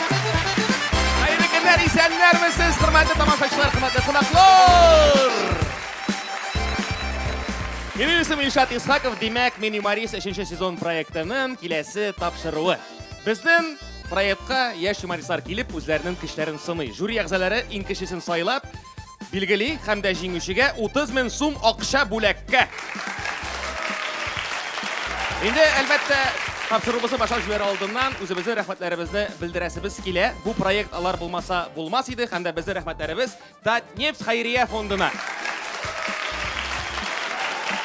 Хәерле көннәр, исәннәрмесез, хөрмәтле тамашачылар, хөрмәтле кунаклар! Минем исем Илшат Исхаков, димәк, мин юморист 3 сезон проектының киләсе тапшыруы. Безнең проектка яшь юмористлар килеп, үзләренең көчләрен сыный. Жюри әгъзалары иң кечесен сайлап, билгели һәм дә җиңүчегә 30 мең сум акча бүләккә. Инде, әлбәттә, тапшыруыбызны башлап җибәрә алдыннан үзебезнең рәхмәтләребезне белдерәсебез килә. Бу проект алар булмаса булмас иде һәм дә безнең рәхмәтләребез Татнефть хәйрия фондына.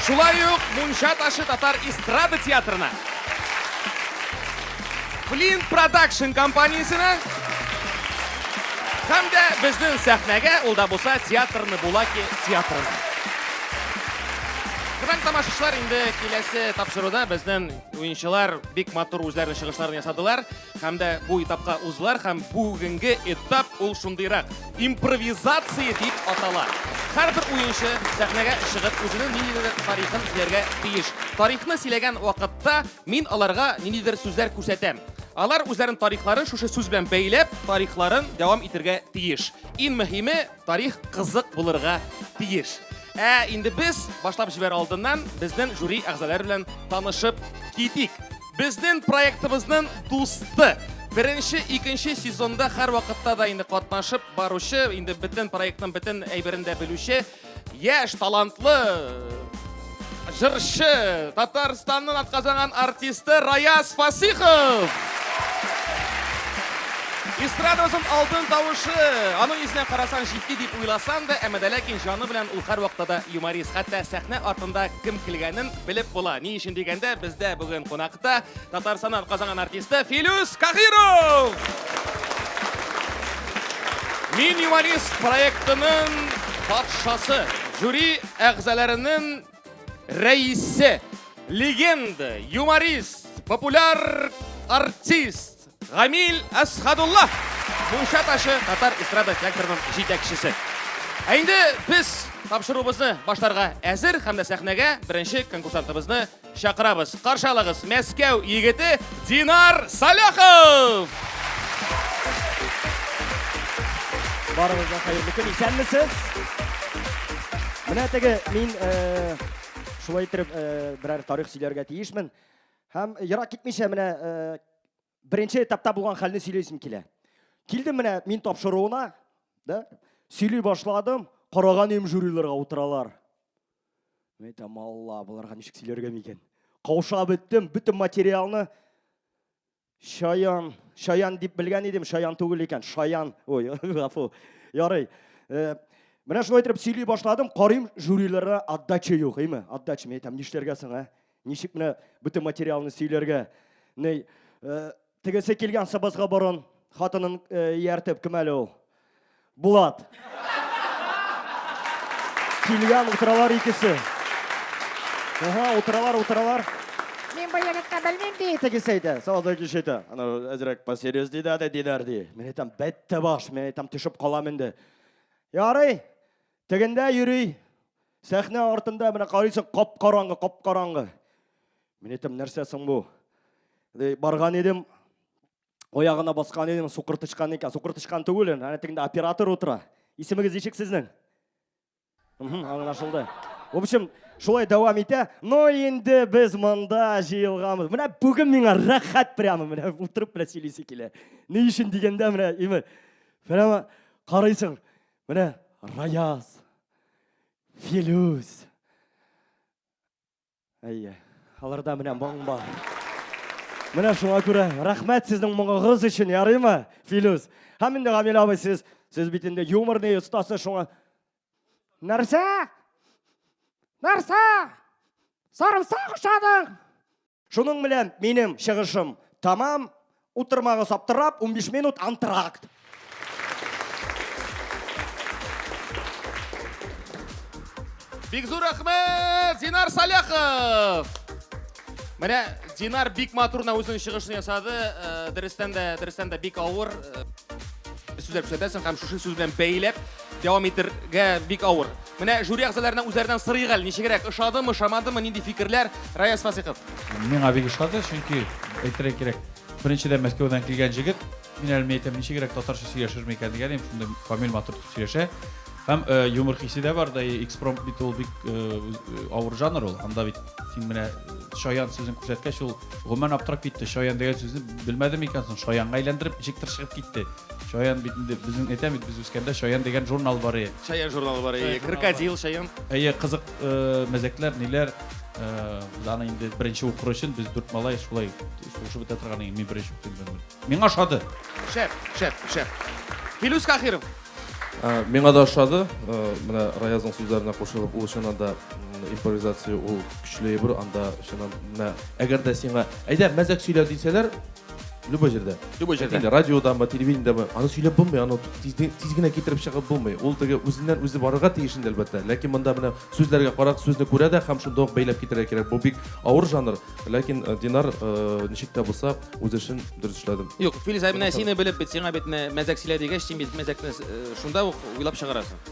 Шулай ук Мунча ташы татар эстрада театрына. Flint Production компаниясенә һәм дә безнең сәхнәгә ул да булса театрны Булаки театрына. Кызан тамашачылар инде киләсе тапшыруда безнең уенчылар бик матур үзләренең чыгышларын ясадылар һәм дә бу этапка уздылар һәм бүгенге этап ул шундыйрак импровизация дип атала. Һәрбер уенчы сәхнәгә чыгып үзенең ниндидер тарихын сөйләргә тиеш. Тарихны сөйләгән вакытта Мин аларга ниндидер сүзләр күрсәтәм. Алар үзләрен тарихларын шушы сүз белән бәйләп, тарихларын дәвам итергә тиеш. Иң мөһиме, тарих кызык булырга тиеш. Ә инде без башлап җибәр алдыннан безнең жюри әгъзалары белән танышып китик. Безнең проектыбызның дусты Беренче, икенче сезонда һәр вакытта да инде катнашып баручы, инде бөтен проектның бөтен әйберен дә белүче Яш талантлы жыршы, Татарстанның атказанган артисты Раяз Фасихов. Эстрадамызның алтын тавышы. Аның йөзенә карасаң җитди дип уйласаң да, әмма дә ләкин җаны белән ул һәрвакытта да юморист. Хәтта сәхнә артында кем килгәнен белеп була. Ни өчен дигәндә, бездә бүген кунакта Татарстаннан атказанган артисты Филюс Кахиров! Мин юманист проектының патшасы, жюри әгъзаларының рәисе, легенда, юморист, популяр артист Гамил Асхадулла. Мунча ташы татар эстрада театрының җитәкчесе. Ә инде без тапшыруыбызны башларга әзер һәм дә сәхнәгә беренче конкурсантыбызны Чакырабыз, каршы алыгыз, Мәскәү егете Динар Саляхов! Барыгызга хәерле көн, исәнмесез? Менә теге мин э, шулай итеп э, берәр тарих сөйләргә тиешмен. Һәм ерак китмичә менә э, беренче этапта булган хәлне сөйләйсем килә. Килдем менә мин тапшыруына, да? Сөйли башладым, караган өем жюриларга утыралар. Мен әйтәм, Алла, боларга ничек сөйләргә микән? Кауша беттем, бөтен материалны Шаян, Шаян дип белгән идем, Шаян түгел икән, Шаян. Ой, гафу. Ярый. Э, менә шулай итеп сөйли башладым, карыйм, жюриларга отдача юк, әйме? Отдача, мен әйтәм, нишләргә соң, ә? Ничек менә бөтен материалны сөйләргә? Ней, э, тегесе килгән сабазга борын хатынын э, ияртеп кем әле ул? Булат. Килгән утыралар икесе. Ага, утыралар, утыралар. Мин бу егетне белмим ди, тегесе әйтә. Сабазда кеше әйтә. Ана әзрәк посерьез ди дә диләр ди. Мин әйтәм, бәттә баш, мин әйтәм, төшеп калам инде. Ярый, Тегендә йөри, сәхнә артында менә карыйсың, кап-караңгы, кап-караңгы. Мин әйтәм, нәрсә соң бу? Барган идем, оягына баскан идем, сукыр тычкан икән. Сукыр тычкан түгел, әнә тегендә оператор утыра. Исемегез ничек сезнең? Аңлашылды. В общем, шулай дәвам итә. Но инде без монда җыелганбыз. Менә бүген миңа рәхәт прямо, менә утырып менә сөйлисе килә. Ни өчен дигәндә менә, именно, прямо карыйсың, Менә Раяз, Филүс. Әйе, аларда менә моң бар. Менә шуңа күрә рәхмәт сезнең моңыгыз өчен, ярыймы, Филүс? Һәм инде Гамил абый сез, сез бит инде юморный остасы шуңа. Нәрсә? Нәрсә? Сарымсак ошадың? Шуның белән минем чыгышым тамам. Утырмагыз аптырап, 15 минут антракт. Бик зур рәхмәт, Динар Саляхов! Менә Динар бик матурна үзенең чыгышын ясады. Э, дөрестән дә, дөрестән дә бик авыр. Э, сүзләр күрсәтәсең һәм шушы сүз белән бәйләп Дәвам итергә бик авыр. Менә жюри әгъзаларына үзләреннән сорыйк әле, ничегрәк, ошадымы, ошамадымы, нинди фикерләр? Раяз Фасыйхов. Миңа бик ошады, чөнки әйтергә кирәк, беренчедән Мәскәүдән килгән җегет, мин әле менә әйтәм, ничегрәк татарча сөйләшерме икән дигән идем, шундый камил, матур итеп сөйләшә. Һәм э, юмор хисе дә бар, да и экспромт бит ул бик э, э, авыр жанр ул. Анда бит син менә э, шаян сүзен күрсәткәч, ул гомумән аптырап китте. Шаян дигән сүзне белмәдем икән соң, шаянга әйләндереп, ничектер чыгып китте. Чаян бит инде безнең әйтәм бит без үскәндә Чаян дигән журнал бар иде. Чаян журналы бар иде. Крокодил Чаян. Әйе, кызык э, мәзәкләр, ниләр. Э, без аны инде беренче укыр өчен без дүрт малай шулай шушып бетә торган иде. Мин беренче укыйм бер мин. Миңа ошады. Шәп, шәп, шәп. Филүс Кахиров. Ә, Миңа да ошады. Э, Менә Раязның сүзләренә кушылып, ул чыннан да м, импровизация ул көчле әйбер, анда чыннан менә әгәр дә сиңа әйдә мәзәк сөйлә дисәләр, Любой җирдә. Любой җирдә. Инде радиодамы, телевидениедәме, аны сөйләп булмый, аны тиз, тиз генә китереп чыгып булмый. Ул теге үзеннән үзе барырга тиеш инде әлбәттә. Ләкин монда менә сүзләргә карак, сүзне күрә дә һәм шунда ук бәйләп китерә кирәк. Бу бик авыр жанр, ләкин э, Динар э, ничек тә булса үз эшен дөрес эшләде. Юк, Филиза, менә сине белеп бит, сиңа бит мәзәк сөйлә дигәч, син бит мәзәкне э, шунда ук уйлап чыгарасың.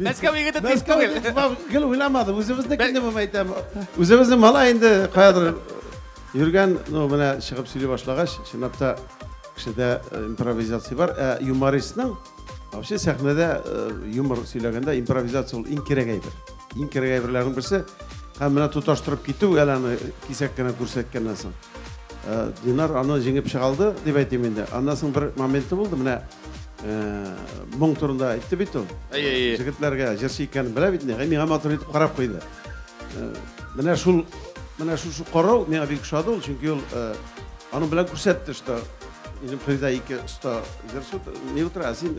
Мәскәү егете тиз түгел. Гел уйламадым, үзебезнекен дип әйтәм. Үзебезнең мала инде каядыр йөргән, ну менә чыгып сөйли башлагач, чынлап та кешедә э, импровизация бар. Ә юмористның вообще сәхнәдә э, юмор сөйләгәндә импровизация ул иң кирәк әйбер. Иң кирәк әйберләрнең берсе һәм менә тоташтырып китү әле аны кисәк кенә күрсәткәннән соң. Э, Динар аны җиңеп чыга алды дип әйтим инде. Аннан соң бер моменты булды, менә моң турында әйтте бит ул җегетләргә җырчы икәнен белә бит инде миңа матур итеп карап куйды менә шул менә шушы карау миңа бик ошады ул чөнки ул аның белән күрсәтте что минем кайда ике оста җырчы не утра син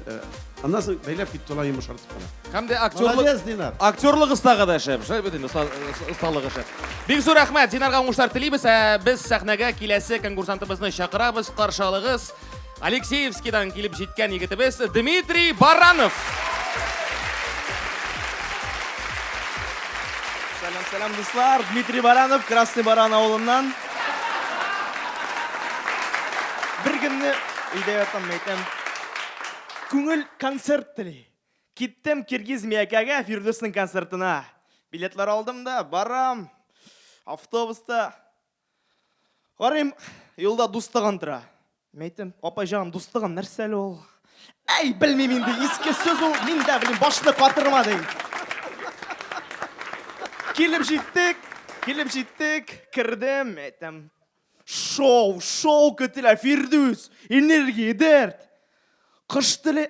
аннан соң бәйләп китте ул йомшартып кына һәм дә актерлык актерлык остагы да шәп шәп бит инде осталыгы шәп бик зур рәхмәт динарга уңышлар телибез ә без сәхнәгә киләсе конкурсантыбызны чакырабыз каршы алыгыз Алексеевскидан килеп җиткән егетебез Дмитрий Баранов. Сәлам, сәлам, дуслар. Дмитрий Баранов, Красный Баран авылыннан. Бер көнне өйдә ятам, әйтәм. Күңел концерт тели. Киттем Киргиз Миякәгә Фирдүснең концертына. Билетлар алдым да, барам. Автобуста Карыйм, юлда дустыгын тора. Мин әйтәм, апай җаным, дустыгын нәрсә әле ул? Әй, белмим инде, иске сүз ул, мин дә белмим, башны катырма ди. Килеп җиттек, килеп җиттек, кердем, әйтәм, шоу, шоу көтелә, Фирдүс, энергия, дәрт. Кыш теле,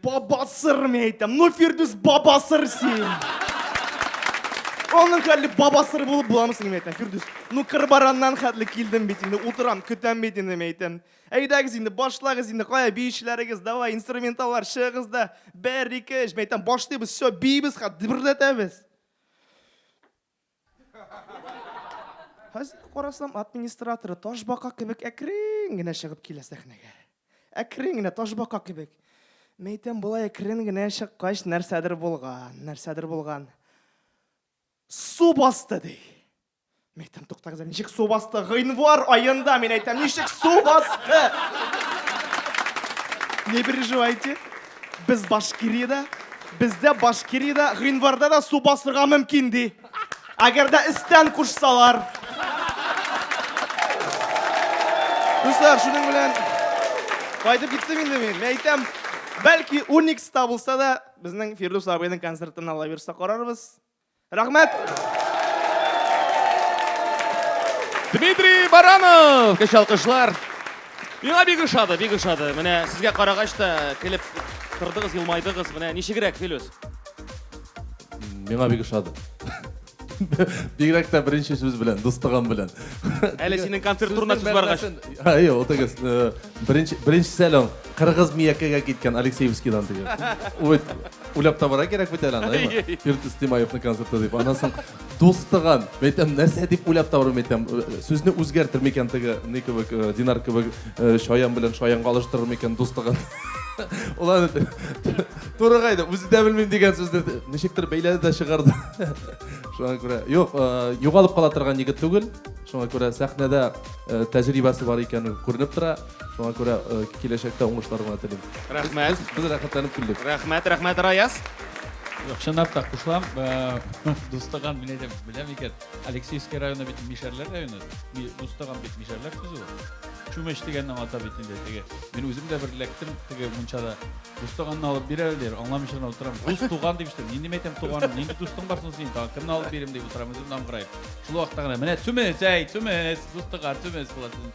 Баба сыр, мин әйтәм. Ну, Фирдүс, баба сыр син. Аның хәле баба сыр булып буламы син, мин әйтәм. Фирдүс, ну, кырбараннан хәтле килдем бит инде, утырам, көтәм бит инде, мин әйтәм. Әйдәгез инде, башлагыз инде, кая биючеләрегез, давай, инструменталлар, чыгыгыз да, бер, ике, өч, мин әйтәм, башлыйбыз, все, биибез, хат, дөбердәтәбез. Хәзер карасам, ат министраторы ташбака кебек әкрен генә чыгып килә сәхнәгә. Әкрен генә, ташбака кебек. Мәйтәм, болай әкрен генә чыккач, нәрсәдер булган, нәрсәдер булган. Су басты, ди. Мәйтәм, туктагыз, ничек су басты? Гыйнвар аенда, мин әйтәм, ничек су басты? Не переживайте. Без Башкириядә, бездә Башкириядә гыйнварда да су басырга мөмкин, ди. Әгәр дә өстән кушсалар. Дуслар, шуның белән кайтып киттем инде мин. Мин әйтәм, бәлки Уникста булса да, безнең Фирдус абыйның концертын ала бирсә карарбыз. Рәхмәт! Дмитрий Баранов! Көч алкышлар! Миңа бик ошады, бик ошады. Менә сезгә карагач та килеп тордыгыз, елмайдыгыз. Менә ничегрәк, Филүс? Миңа бик ошады. Бигрәк тә беренче сүз белән, дустыгым белән. Әле синең концерт турында сүз баргач. Әйе, ул тегез. Беренче, беренче сәлам. Кыргыз Миякәгә киткән Алексеевскидан теге. Ой, уйлап табара кирәк бит әле аны, әйме? Фирдүс Тимаевның концерты дип. Аннан соң дустыган. Мәйтәм, нәрсә дип уйлап табару мәйтәм. Сүзне үзгәртер микән теге ни кебек, э, Динар кебек э, шаян белән шаянга алыштырыр микән дустыган. Ул аны туры кайда, үзе дә белмим дигән сүзне ничектер бәйләде дә чыгарды. Шуңа күрә, юк, э, югалып кала торган егет түгел. Шуңа күрә сәхнәдә э, тәҗрибәсе бар икәне күренеп тора. Шуңа күрә э, киләчәктә уңышлар гына телим. Рәхмәт. Без рәхәтләнеп килдек. Рәхмәт, рәхмәт, Раяз. Юк, чынлап та кушылам. Э, Дустаган мин әйтәм, беләм икән. Алексеевский районы бит Мишәрләр районы. Ми- Дустаган бит Мишәрләр сүзе ул. Чүмеч дигәннең ата бит инде теге. Мин үзем дә бер эләктем теге мунчада. Дустанганны алып бир әле дир, аңламыйчан утырам. Дус туган дип ишетәм. Нинди мәйтәм туган, нинди дустың бар соң синең? Тагын кемне алып бирим дип утырам, үзем дә аңгыраеп. Шул вакытта гына менә чүмеч, әй, чүмеч, дустаган, чүмеч була сезнең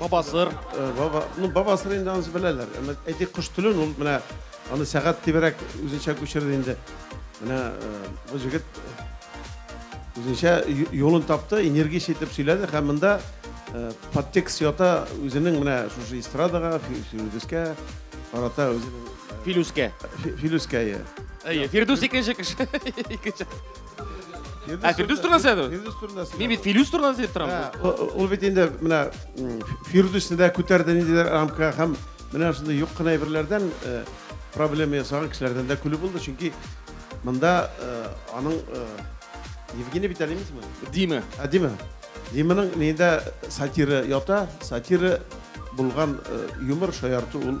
Бабасыр. Э, баба, ну бабасыр инде анысы беләләр. Әмма әйтик кош телен ул менә аны сәгать дибрәк үзенчә күчерде инде. Менә э, бу җегет э, үзенчә юлын тапты, энергич итеп сөйләде һәм монда подтекст ята үзенең менә шушы эстрадага, филүскә, арата үзенең филүскә. Филүскә. Әйе, Фирдус икенче кеше. Икенче. Ә Фирдүс турында сөйләдегез? Фирдүс турында сөйләдегез. Мин бит Филүс турында сөйләп торам. Ул бит инде менә Фирдүсне дә күтәрде ниндидер рамка һәм менә шундый юк кына әйберләрдән э, проблема ясаган кешеләрдән дә көлү булды, чөнки монда э, аның э, Евгений бит әлимиз ме? Диме. Ә Диме. Диманың нидә сатира ята, сатира булган юмор шаярту ул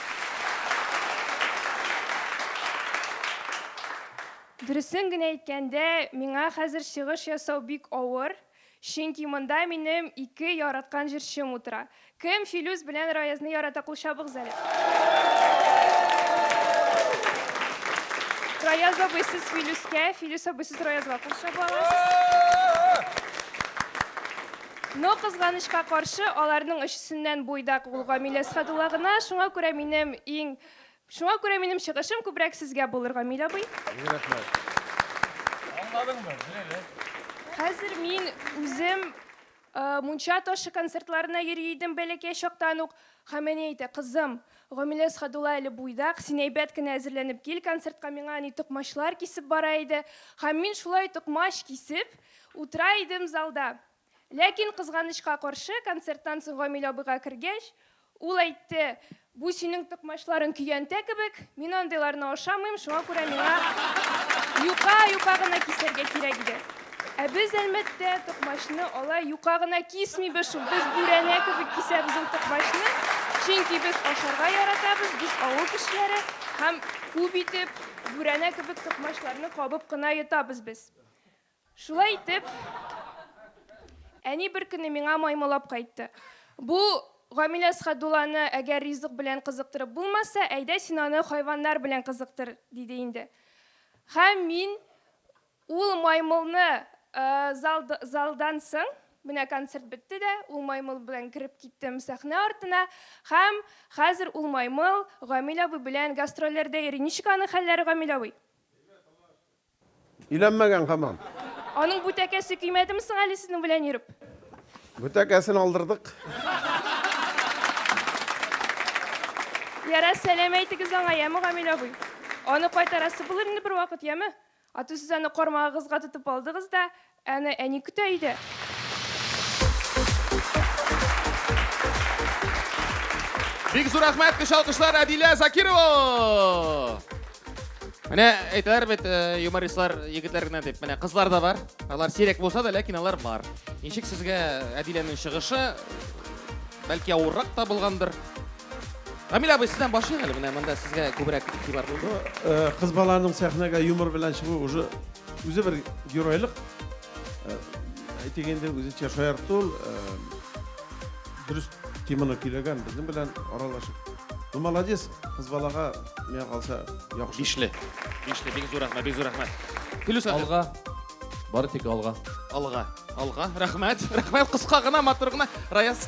Дөресен генә әйткәндә, миңа хәзер чыгыш ясау бик авыр, чөнки монда минем ике яраткан җырчым утыра. Кем Филүс белән Раязны ярата, кул чабыгыз әле. Раяз абый, сез Филүскә, Филүс абый, сез Раязга кул чаба аласыз. Но, кызганычка каршы, аларның өчесеннән буйдак ул Гамилә Әсхәдулла гына, шуңа күрә минем иң Шуңа күрә минем чыгышым күбрәк сезгә булыр, Гамил абый. Мең рәхмәт. Аңладыңмы? Беләле. Хәзер мин үзем мунча ташы концертларына йөри идем бәләкәй чактан ук. Һәм әни әйтә, кызым, Гамилә Әсхәдулла әле буйдак, син әйбәт кенә әзерләнеп кил концертка, миңа әни токмачлар кисеп бара иде. Һәм мин шулай токмач кисеп, Утыра идем залда. Ләкин, кызганычка каршы, концерттан соң Гамил абыйга кергәч, ул әйтте, Бу синең токмачларың көянтә кебек, мин андыйларны ашамыйм, шуңа күрә миңа юка, юка гына кисәргә кирәк иде. Ә без Әлмәттә токмачны алай юка гына кисмибез шул, без бүрәнә кебек кисәбез ул токмачны, чөнки без ашарга яратабыз, без авыл кешеләре һәм күп итеп бүрәнә кебек токмачларны кабып кына йотабыз без. Шулай итеп, әни бер көнне миңа маймылап кайтты. Бу Гамилә Схадулланы әгәр ризык белән кызыктырып булмаса, әйдә син аны хайваннар белән кызыктыр, диде инде. Һәм мин ул маймылны залдан соң, менә концерт бетте дә, ул маймыл белән кереп киттем сәхнә артына, һәм хәзер ул маймыл Гамилә абый белән гастрольләрдә йөри. Ничек аның хәлләре, Гамилә абый? Өйләнмәгән хамам. Аның бу тәкәсе көймәдеме соң әле сезнең белән йөреп? Бу тәкәсен алдырдык. Ярар, сәлам әйтегез аңа, яме, Гамил абый. Аны кайтарасы булыр инде бервакыт, яме? Ату сез аны кармагыгызга тотып алдыгыз да, Әнә әни көтә иде. Бик зур рәхмәт, көч алкышлар Адилә Закирова! Менә әйтәләр бит э, юмористлар егетләр генә дип. Менә кызлар да бар. Алар сирәк булса да, ләкин алар бар. Ничек сезгә Әдиләнең чыгышы? Бәлки авыррак та булгандыр. Рамил абый, сездән башлыйк әле. Менә монда сезгә күбрәк игътибар булды. Э, Кыз баланың сәхнәгә юмор белән чыгуы уже Үзе бер геройлык, әйтик инде, үзенчә шаярту, дөрес теманы көйләгән, безнең белән аралашып. Ну, молодец, кыз балага, миңа калса, яхшы. Бишле. Бишле, бик зур рәхмәт, бик зур рәхмәт. Филүс хәзер. Алга. Бары тик алга. Алга. Алга. Рәхмәт. Рәхмәт, кыска гына, матур гына. Раяз.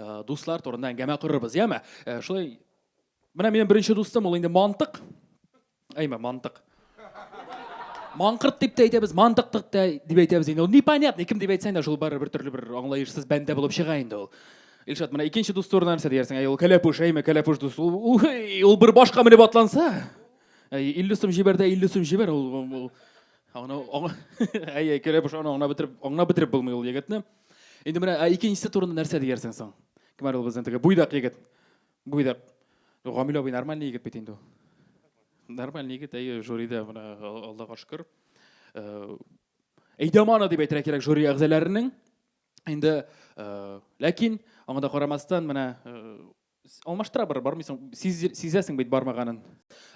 Э, дуслар турында әңгәмә корырбыз яме э, шулай менә минем беренче дустым ул инде мантык әйме мантык маңкырт дип те әйтәбез мантыктык та дип әйтәбез инде ул непонятный кем дип әйтсәң дә шул бары бер төрле бер аңлаешсыз бәндә булып чыга инде ул Илшат, менә икенче дус турында нәрсә диярсең? Әй, ул кәләпүш, әйме, кәләпүш дус. Ул, ул, ул бер башка менеп атланса, әй, 50 сум җибәр дә 50 сум җибәр, ул, ул, ул, аңна, аңна, әй, әй, кәләпүш аны аңна бетереп, аңна бетереп булмый ул егетне. Инде менә ә икенчесе турында нәрсә диярсең соң? Кем әле ул безнең теге буйдак егет? Буйдак. Гамил абый нормальный егет бит инде ул. Нормальный егет, әйе, жюрида менә Аллага шөкер. Э, Әйдамана дип әйтергә кирәк жюри әгъзаларының. Инде э, ләкин аңа да карамастан менә э, Алмаштыра бер бармыйсың, сизәсең бит бармаганын.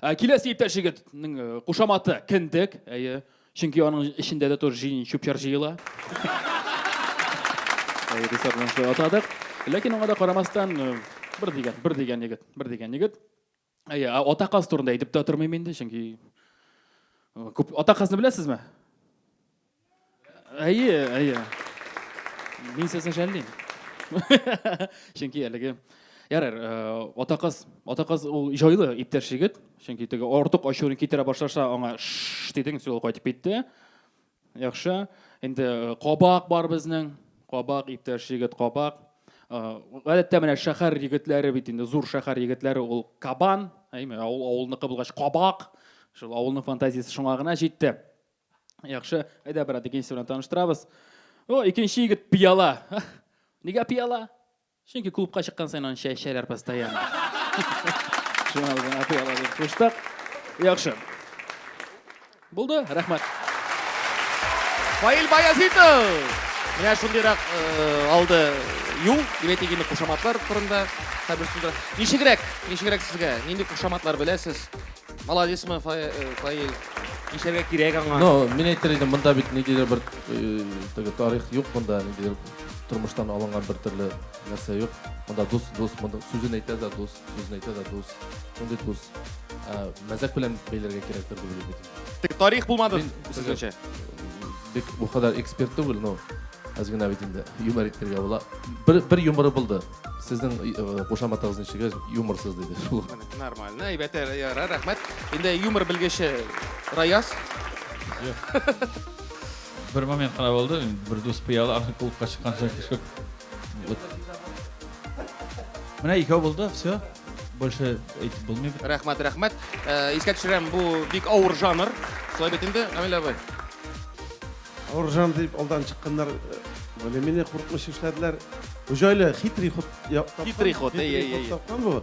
Ә киләсе иптәш егетнең э, кушаматы кендек, әйе. Чөнки аның эчендә дә тоже җиен чүпчар җыела. Әйе, дисардан шулай атадык. Ләкин аңа да карамастан э, бер дигән, бер дигән егет, бер дигән егет. Әйе, ата каз турында әйтеп тә тормыйм инде, чөнки күп ата казны беләсезме? Әйе, әйе. Мин сезне жәллим. Чөнки әлеге Ярар, ата кыз, ата кыз ул җайлы иптәш егет, чөнки теге артык ачуын китерә башласа, аңа ш дидең, ул кайтып китте. Яхшы, инде кабак бар безнең, кабак, иптәш егет кабак. Гадәттә менә шәһәр егетләре бит инде, зур шәһәр егетләре ул кабан, әйме, авыл авылныкы булгач кабак. Шул авылның фантазиясе шуңа гына җитте. Яхшы, әйдә, брат, икенчесе белән таныштырабыз. О, икенче егет пиала. Нигә пиала? Чөнки клубка чыккан саен аны чәчәләр постоянно. Шуңа үзен атый ала дип куштык. Яхшы. Булды, рәхмәт. Фаил Баязитов! Менә шундыйрак алды юл, димәк инде кушаматлар турында хәбәр сүзләр. Ничегрәк, ничегрәк сезгә? Нинди кушаматлар беләсез? Молодецмы, Фаил? Ничәргә кирәк аңа? Ну, мин әйтер идем, монда бит ниндидер бер теге тарих юк монда, ниндидер Тормыштан алынган бер төрле нәрсә юк. Монда дус, дус, монда сүзен әйтә дә дус, сүзен әйтә дә дус. Мондый дус. Ә, мәзәк белән бәйләргә кирәктер дип уйлыйм. Тик тарих булмады Мин- сезгәчә. Бик бу кадәр эксперт түгел, но аз гына бит инде юмор итәргә була. Бер бер юморы булды. Сезнең э, кушаматыгыз ничек ич, юморсыз диде. Шул ук. Менә, Нормально, әйбәт, ә, ярар, рәхмәт. Инде юмор белгече Раяз. Бер момент кына булды, бер дус пыялы архив клубка чыккан чак төшеп. Менә икәү булды, все. Больше әйтеп булмый. Рәхмәт, рәхмәт. Э, искә төшерәм, бу бик авыр жанр. Шулай бит инде, Камил абый. Авыр жанр дип алдан чыкканнар э, более-менее куркыныч эшләделәр. Җайлы, хитрый ход. Хитрый ход, әй, әй, әй. Тапкан бу.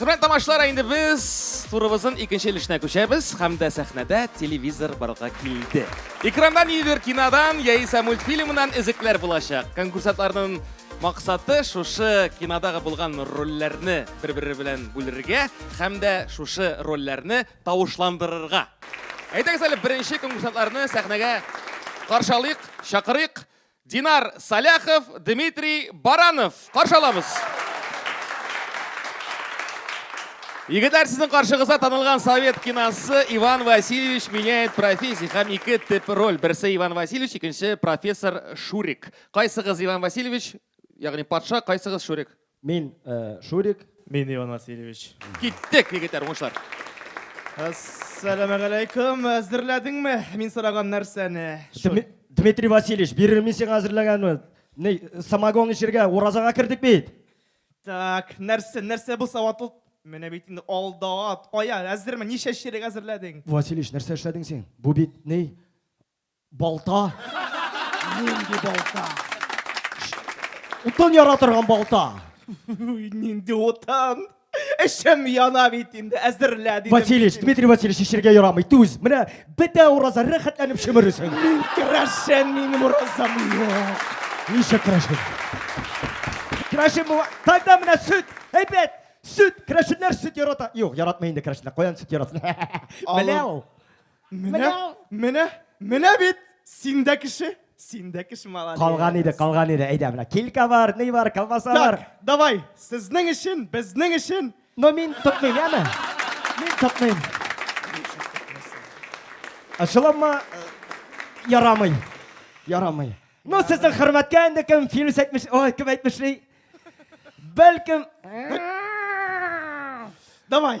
Хөрмәт тамашалар, инде без турыбызның икенче өлешенә күчәбез һәм дә сәхнәдә телевизор барга килде. Экраннан ниндидер кинодан яисә мультфильмнан эзекләр булачак. Конкурсантларның максаты шушы кинодагы булган рольләрне бер-бере белән бүлергә һәм дә шушы рольләрне тавышландырырга. Әйдәгез әле беренче конкурсантларны сәхнәгә каршы алыйк, чакырыйк. Динар Саляхов, Дмитрий Баранов. Каршы алабыз. Егетләр, сезнең каршыгызда танылган совет киносы Иван Васильевич меняет профессию һәм ике тип роль. Берсе Иван Васильевич, икенче профессор Шурик. Кайсыгыз Иван Васильевич, ягъни патша, кайсыгыз Шурик? Мин, Шурик. Мин, Иван Васильевич. Киттек, егетләр, уңышлар! Әссәламәгаләйкүм! Әзерләдеңме мин сораган нәрсәне? Дмитрий Васильевич, бирермен сиңа әзерләгәнне. Ни, самогон эчергә, уразага кердек бит. Так, нәрсә, нәрсә бу саватлы? Менә бит инде алда ат. Ая, әзерме? Ничә чирек әзерләдең? Васильевич, нәрсә эшләдең син? Бу бит ни? Балта. Нинди балта? Утын яра торган балта. Нинди утын? Эшем яна бит инде, әзерлә дидем. Васильевич, Дмитрий Васильевич, эчергә ярамый. Түз, менә бетә ураза, рәхәтләнеп шөмересең. Мин керәшен, минем уразам юк. Ничек керәшен? Керәшен бу. Тогда менә сөт, әйбәт. Сөт, керәшеннәр сөт ярата. Юк, яратмый инде керәшеннәр. Каян сөт яратсын? Менә ул. Менә, менә, менә бит син дә кеше, син дә кеше молодец. Калган иде, калган иде. Әйдә, менә килька бар, ни бар, колбаса бар. Так, давай, сезнең өчен, безнең өчен. Но мин тотмыйм, яме? Мин тотмыйм. Ачыламы? Ярамый. Ярамый. Ну, сезнең хөрмәткә инде кем Филүс әйтмеш, ой, кем әйтмешли? Бәлкем, Давай,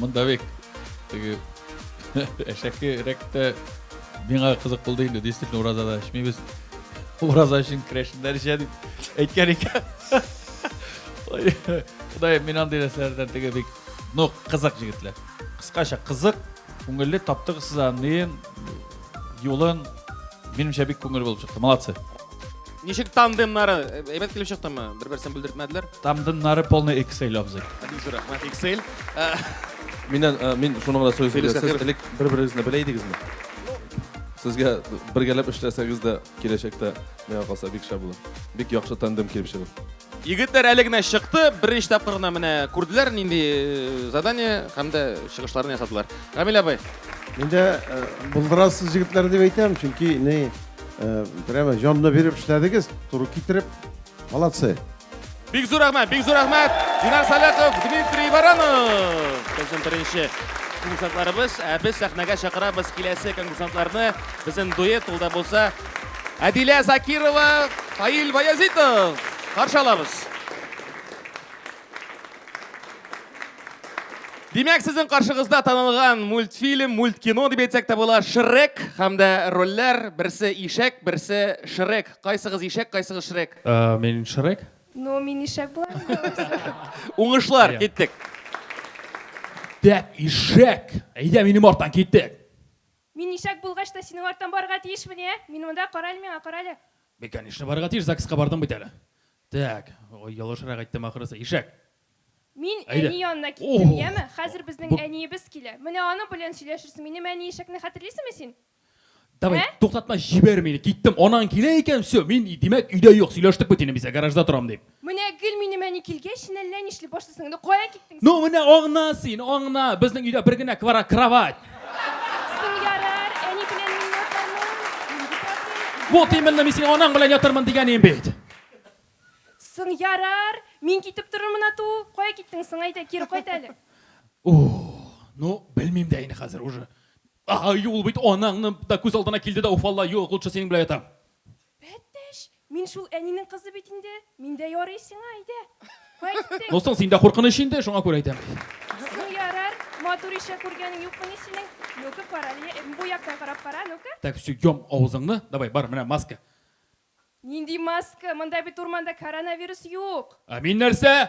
Монда бик теге әшәке рәктә миңа кызык булды инде, действительно уразада эчмибез. Ураза өчен крәшеннәр эчә дип әйткән икән. Ходай, мин андый нәрсәләрдән теге бик ну кызык җегетләр. Кыскача кызык, күңелле таптыгыз сез аны юлын минемчә бик күңел булып чыкты. Молодцы. Ничек тандемнары? Әйбәт килеп чыктымы? Бер-берсен бүлдертмәделәр. Тандемнары полный Excel абзый. Бик зур рәхмәт, Excel. Миннән э, мин шуны гына сөйләсәм, Филис сез Закиров. элек бер-берегезне белә идегезме? Сезгә бергәләп эшләсәгез дә киләчәктә миңа калса бик шәп булыр. Бик яхшы тандем килеп чыгыр. Егетләр әле генә чыкты, беренче тапкыр гына менә күрделәр нинди э, задание һәм дә чыгышларын ясадылар. Камил абый. Мин дә э, булдырасыз егетләр дип әйтәм, чөнки ни э, прямо җанны биреп эшләдегез, туры китереп. Молодцы. Бик зур рәхмәт, бик зур рәхмәт. Динар Саляков, Дмитрий Баранов. Безнең беренче конкурсантларыбыз. Ә без сәхнәгә чакырабыз киләсе конкурсантларны. Безнең дуэт ул да булса Әдилә Закирова, Фаил Баязитов. Каршы алабыз. Димәк, сезнең каршыгызда танылган мультфильм, мульткино дип әйтсәк тә була, Шрек һәм дә рольләр, берсе ишәк, берсе Шрек. Кайсыгыз ишәк, кайсыгыз Шрек? Э, мин Шрек. Ну, мин ишәк була. Уңышлар, киттек. Дәп ишәк. Әйдә минем арттан киттек. Мин ишәк булгач та синең арттан барырга тиешмени, ә? Мин монда, карале миңа, карале. Мин, конечно, барырга тиеш, ЗАГСка бардым бит әле. Так, ой, ялгышрак әйттем ахрысы, ишәк. Мин Әйдә. әни янына киттем, Ох, яме? Хәзер безнең бу. әниебез килә. Менә аның белән сөйләшерсең. Минем әни ишәкне хәтерлисеңме син? Давай, Ә? туктатма, җибәр мине, киттем. Анаң килә икән, все, мин, димәк, өйдә юк, сөйләштек бит инде, без гаражда торам, дип. Менә гел минем әни килгәч, син әллә нишли башлыйсың. Инде кая киттең син? Ну, менә аңна син, аңна. Безнең өйдә бер генә квара кровать. Соң ярар, әни белән мин ятармын. Нинди проблема? Вот именно мин синең анаң белән ятармын дигәнем бит. Соң ярар, мин китеп торырмын ату. Кая киттең соң, әйдә, кире кайт әле. Ух, ну, белмим дә инде хәзер уже. Ай, ул бит анаңны да күз алдына килде дә уфалла, юк, лучше синең белән ятам. Пәттәш, мин шул әнинең кызы бит инде, мин дә ярый сиңа, әйдә, кайттык. Дустың синдә куркыныч инде, шуңа күрә әйтәм. Соң ярар, матур ишә күргәнең юкмыни синең? Ну-ка карале, эм, бу яктан карап кара, ну-ка. Так, все, йом авызыңны, давай, бар, менә маска. Нинди маска, монда бит урманда коронавирус юк. Ә мин нәрсә?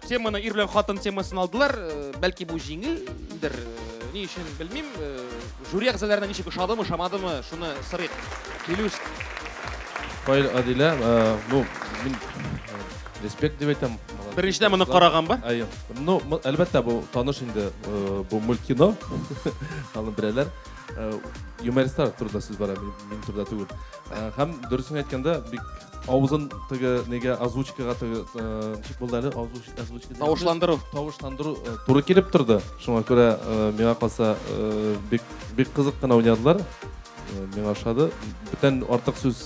Теманы ир белән хатын темасын алдылар. Э, бәлки бу җиңелдер. Э, ни өчен белмим. Э, жюри әгъзаларына ничек ошадымы, шамадымы, шуны сорыйк. Филүс. Фаил Адилә, ну, мин респект дип әйтәм. Беренчедән моны караган ба? Әйе. Ну, әлбәттә бу таныш инде бу мультфильм. Аны беләләр. Юмористлар турында сүз бара, мин турында түгел. Һәм дөресен әйткәндә, бик авызын теге нигә озвучкага теге ничек булды әле озвучка тавышландыру тавышландыру туры килеп торды. Шуңа күрә миңа калса бик бик кызык кына уйнадылар. Миңа ошады. Бүтән артык сүз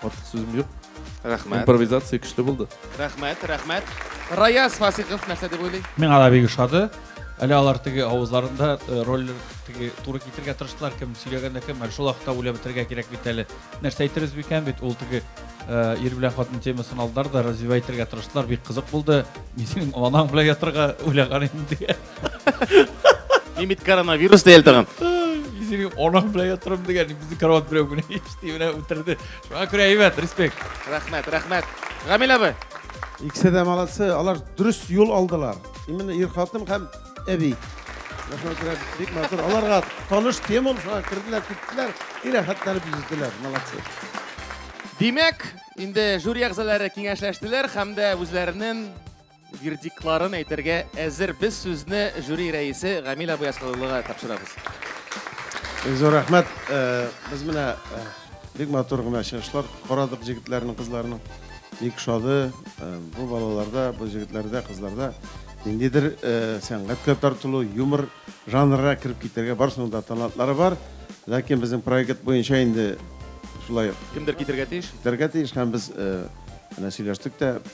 артык сүзем юк. Рәхмәт. Импровизация көчле булды. Рәхмәт, рәхмәт. Раяз Фасихов нәрсә дип уйлый? Миңа да бик ошады. Әле алар теге авызларында э, рольлер теге туры китерергә тырыштылар, кем сөйләгәндә кем, әле шул вакытта үлә бетерергә кирәк бит әле. Нәрсә әйтербез бикән бит, ул теге э, ир белән хатын темасын алдылар да развивать итәргә тырыштылар, бик кызык булды. Мин синең анаң белән ятырга уйлаган идем диге. Мин бит коронавирус диял тагын. Мин синең анаң белән ятырым дигән, безнең карават берәү генә ишти менә үтерде. Шуңа күрә әйбәт, респект. Рәхмәт, рәхмәт. Гамил абый. Икесе дә молодцы, алар дөрес юл алдылар. Именно ир хатын һәм әби. Бик матур. Аларга таныш тема ул, шуңа керделәр, киттеләр, и рәхәтләнеп йөздиләр. Молодцы. Димәк, инде жюри әгъзалары киңәшләштеләр һәм дә үзләренең вердиктларын әйтергә әзер. Без сүзне жюри рәисе Гамил абый Асхалуллага тапшырабыз. Зур рәхмәт. Э, без менә э, Бик матур гына чыгышлар карадык җегетләрнең, кызларның. Бик шады. Э, бу балаларда, бу җегетләрдә, кызларда ниндидер э, сәнгатькә тартылу, юмор жанрына кереп китәргә барысының да талантлары бар. Ләкин безнең проект буенча инде шулай кемдер китергә тиеш. Китергә тиеш һәм без э, менә сөйләштек тә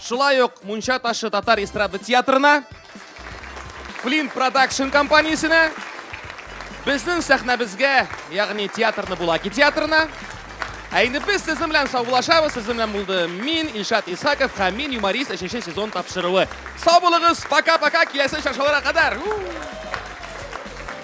Шулай ук Мунча ташы татар эстрада театрына, Флин продакшн компаниясенә, безнең сәхнәбезгә, ягъни театрны Булаки театрына. Ә инде без сезнең белән саубулашабыз. Сезнең белән булды мин, Илшат Исаков һәм мин юморист 3 сезон тапшыруы. Сау булыгыз, пока-пока, киләсе чаршыларга кадәр.